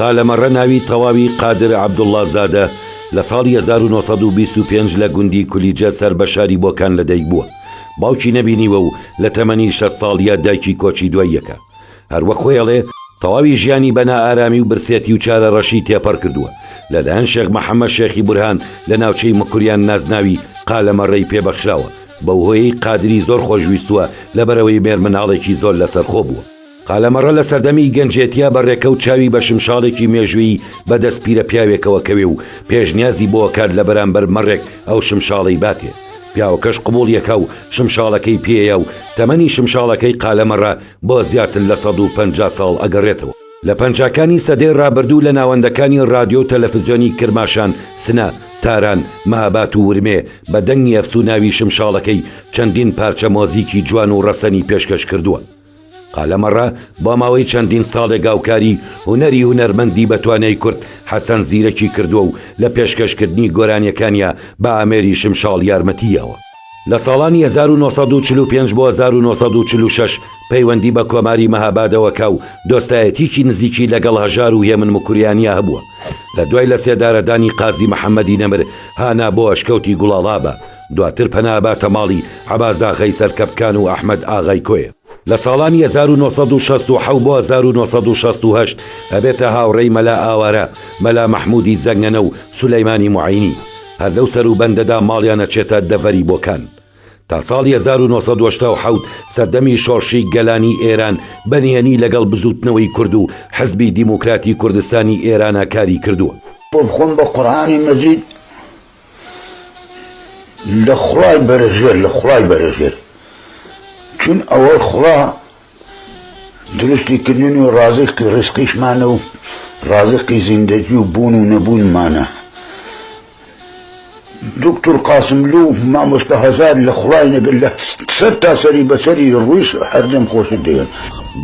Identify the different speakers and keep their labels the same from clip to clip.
Speaker 1: قالەمەڕە ناوی تەواوی قادر عەبدوڵڵا زادە، لە ساڵی هەزار و نۆ سەد و بیست و پێنج لە گوندی کولیجە سەر بە شاری بۆکان لە دایک بووە. باوکی نەبینیوە و لە تەمەنی شەست ساڵییە دایکی کۆچی دوای یەکە. هەر وەک خۆی ئەڵێ، تەواوی ژیانی بە نائارامی و برسێتی و چارەڕەشی تێپەڕ کردووە، لە لایەن شێخ محەممەد شێخی بورهان لە ناوچەی مکوریان نازناوی قالەمەڕەی پێ بەخشراوە، بەو هۆیەی قادری زۆر خۆش ویستووە لەبەرئەوەی مێرمناڵێکی زۆر لەسەرخۆ بووە. قالەمەڕە لە سەردەمی گەنجێتیا بە ڕێکەوت چاوی بە شمشاڵێکی مێژوویی بە دەست پیرە پیاوێکەوە کەوێ و پێشنیازی بۆ ئەکات لە بەرامبەر مەڕێک ئەو شمشاڵەی باتێ. پیاوەکەش قبوڵی ئەکا و شمشاڵەکەی پێیە و تەمەنی شمشاڵەکەی قالەمەڕە بۆ زیاتر لە سەد و پەنجا ساڵ ئەگەڕێتەوە. لە پەنجاکانی سەدەی ڕابردوو لە ناوەندەکانی ڕادیۆ و تەلەفزیۆنی کرماشان، سنە، تاران، مەهاباد و ورمێ بە دەنگی ئەفسووناوی شمشاڵەکەی چەندین پارچە مۆزیکی جوان و ڕەسەنی پێشکەش کردووە. قەلەمەڕە بۆ ماوەی چەندین ساڵێک هاوکاری هونەری هونەرمەندی بەتوانای کورد حەسەن زیرەکی کردووە و لە پێشکەشکردنی گۆرانیەکانیا بە ئامێری شمشاڵ یارمەتی یاوە. لە ساڵانی هەزار و نۆ سەد و چل و پێنج بۆ هەزار و نۆ سەد و چل و شەش پەیوەندی بە کۆماری مەهابادەوە کا و دۆستایەتیکی نزیکی لەگەڵ هەژار و هێمن مکریانیا هەبووە لە دوای لە سێدارەدانی قازی محەمەدی نەمر هانا بۆ ئەشکەوتی گوڵاڵابە دواتر پەنا باتە ماڵی عەباس ئاغای سەرکەپکان و ئەحمەد ئاغای کۆیە. لە ساڵانی هەزار و نۆ سەد و شەست و حەوت بۆ هەزار و نۆ سەد و شەست و هەشت ئەبێتە هاوڕێی مەلا ئاوارە، مەلا مەحموودی زەنگەنە و سولەیمانی موعەینی. هەر لەو سەروبەندەدا ماڵیان ئەچێتە دەڤەری بۆکان. تا ساڵی هەزار و نۆ سەد و هەشتا و حەوت سەردەمی شۆڕشی گەلانی ئێران بە نهێنی لەگەڵ بزووتنەوەی کورد و حزبی دیموکراتی کوردستانی ئێرانا کاری کردووە. بۆ بخۆم بە
Speaker 2: قورئانی مەجید لە خوای بەرزێر لە خوای بەرزێر چون ئەوە خوا دروستی کردن و ڕازقی ڕزقیشمانە و ڕازقی زیندەجی و بوون و نەبوونمانە دکتور قاسملو مامۆستا هەزار لە خوای نەگەر لە سەر تا سەری بەسەری ڕوویش هەردەم خۆشت دەوێن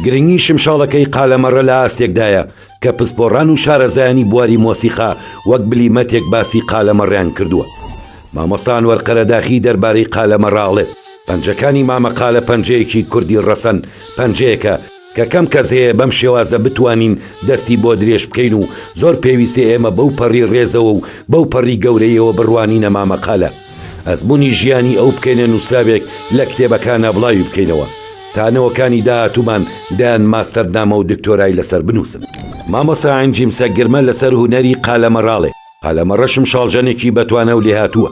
Speaker 2: گرنگی
Speaker 1: شمشاڵەکەی قالەمەڕە لە ئاستێکدایە کە پسپۆڕان و شارەزایانی بواری مۆسیقا وەک بلیمەتێک باسی قالەمەڕیان کردووە. مامۆستا ئەنوەر قەرەداخی دەربارەی قالەمەڕ ئەڵێت، پەنجەکانی مامە قالە پەنجەیەکی کوردی ڕەسەن، پەنجەیەکە کە کەم کەس هەیە بەم شێوازە بتوانین دەستی بۆ درێژ بکەین و زۆر پێویستە ئێمە بەو پەڕی ڕێزەوە و بەو پەڕی گەورەییەوە بڕوانینە مامە قالە. ئەزموونی ژیانی ئەو بکەینە نووسراوێک لە کتێبەکانا بڵاوی بکەینەوە تا نەوەکانی داهاتوومان دەیان ماستەرنامە و دکتۆرای لەسەر بنووسن. مامۆستا عەنجیمسە گرمە لەسەر هونەری قالەمەڕاڵێ، قالەمەڕەشم شاڵژەنێکی بەتوانا و لێهاتووە.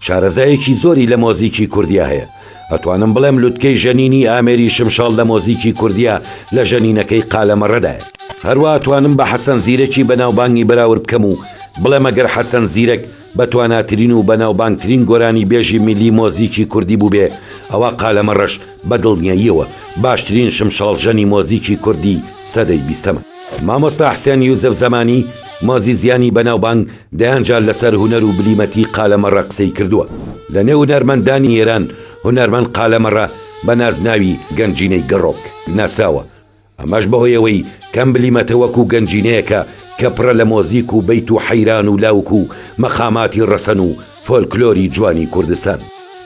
Speaker 1: شارەزایەکی زۆری لە مۆزیکی کوردیا هەیە. ئەتوانم بڵێم لوتکەی ژەنینی ئامێری شمشاڵ لە مۆزیکی کوردیا لە ژەنینەکەی قالەمەڕەدایە. هەروا ئەتوانم بە حەسەن زیرەکی بەناوبانگی بەراورد بکەم و بڵێم ئەگەر حەسەن زیرەک، بە تواناترین و بەناوبانگترین گۆرانیبێژی میللی مۆزیکی کوردی بووبێ ئەوا قالەمە رەش بە دڵنیاییەوە باشترین شمشاڵژەنی مۆزیکی کوردی سەدەی بیستەمە. مامۆستا حسێن یوسف زەمانی، مۆزیزیانی بەناوبانگ دەیان جار لە سەر هونەر و بلیمەتی قالەمەڕە قسەی کردووە. لە نێو هونەرمەندانی ئێران هونەرمەند قالەمەڕە بە نازناوی گەنجینەی گەڕۆک ناسراوە. ئەمەش بەهۆی ئەوەی کەم بلیمەتە وەکو گەنجینەیەکە کە پڕە لە مۆزیک و بەیت و حەیران و لاوک و مەقاماتی ڕەسەن و فۆلکلۆری جوانی کوردستان.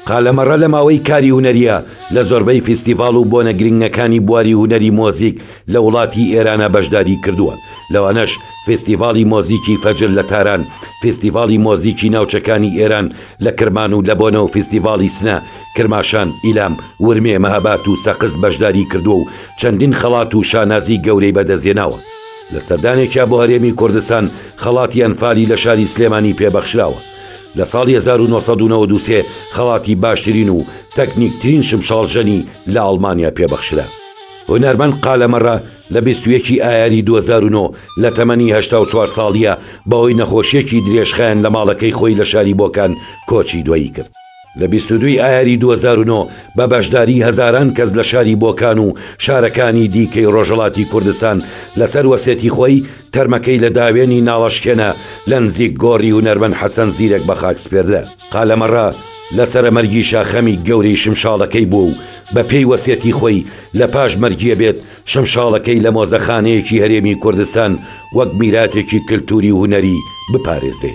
Speaker 1: قالەمەڕە لە ماوەی کاری هونەرییە لە زۆربەی فیستیڤاڵ و بۆنە گرنگەکانی بواری هونەری مۆزیک لە وڵاتی ئێرانە بەشداری کردووە لەوانەش فیستیڤاڵی مۆزیکی فەجر لە تاران فیستیڤاڵی مۆزیکی ناوچەکانی ئێران لە کرمان و لە بۆنەو فیستیڤاڵی سنە کرماشان ئیلام ورمێ مەهاباد و سەقز بەشداری کردووە و چەندین خەڵات و شانازی گەورەی بەدەستهێناوە، لە سەردانێکیا بۆ هەرێمی کوردستان خەڵاتی ئەنفالی لە شاری سلێمانی پێ بەخشراوە، لە ساڵی هەزار و نۆ سەد و نەوەد و سێ خەڵاتی باشترین و تەکنیکترین شمشاڵژەنی لە ئەڵمانیا پێ بەخشرا. هونەرمەند قالە مەرە لە بیست و یەک ی ئایاری دوو هەزار و نۆ لە تەمەنی هەشتا و چوار ساڵییا بەهۆی نەخۆشیەکی درێژخایەن لە ماڵەکەی خۆی لە شاری بۆکان کۆچی دوایی کرد. لە بیست و دوو ی ئایاری دوو هەزار و نۆ بە بەشداری هەزاران کەس لە شاری بۆکان و شارەکانی دیکەی ڕۆژهەڵاتی کوردستان لەسەر وەسێتی خۆی تەرمەکەی لە داوێنی ناڵەشکێنە لە نزیک گۆڕی هونەرمەند حەسەن زیرەک بە خاک سپێردرا. قالەمەڕە لەسەرە مەرگیشە خەمی گەورەی شمشاڵەکەی بووە و بە پێی وەسێتی خۆی لە پاش مەرگیە بێت شمشاڵەکەی لە مۆزەخانەیەکی هەرێمی کوردستان وەک میراتێکی کلتوری و هونەری بپارێزرێ.